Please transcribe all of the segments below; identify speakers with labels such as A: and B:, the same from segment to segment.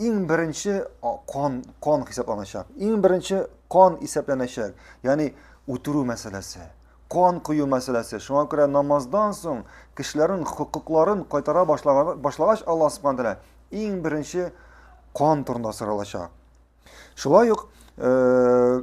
A: иң беренче кан кан хисапланачак иң беренче кан исәпләнәчәк ягъни үтерү мәсьәләсе кан кою мәсьәләсе шуңа күрә намаздан соң кешеләрнең хокукларын кайтара башлагач алла субхан тәала иң беренче кан турында соралачак шулай ук э,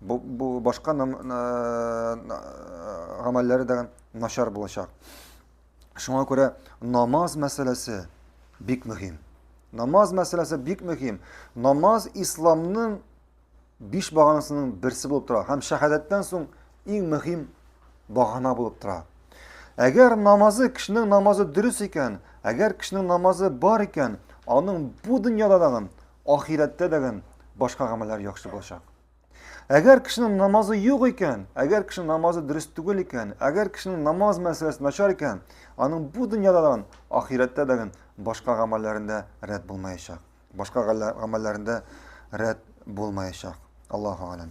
A: Бу, бу башка нам, гамәлләре дә начар булачак. Шуңа күрә намаз мәсьәләсе бик мөһим. Намаз мәсьәләсе бик мөһим. Намаз исламның биш баганасының берсе булып тора һәм шәһадәттән соң иң мөһим багана булып тора. Әгәр намазы, кешенең намазы дөрес икән, әгәр кешенең намазы бар икән, аның бу дөньяда дагын, ахирәттә дәген башка гамәлләр яхшы булачак. Әгәр кешенең намазы юк икән, әгәр кешенең намазы дөрес түгел икән, әгәр кешенең намаз мәсьәләсе начар икән, аның бу дөньяда да, ахирәттә дә башка гамәлләрендә рәт булмаячак. Башка гамәлләрендә рәт булмаячак. Аллаһу алам.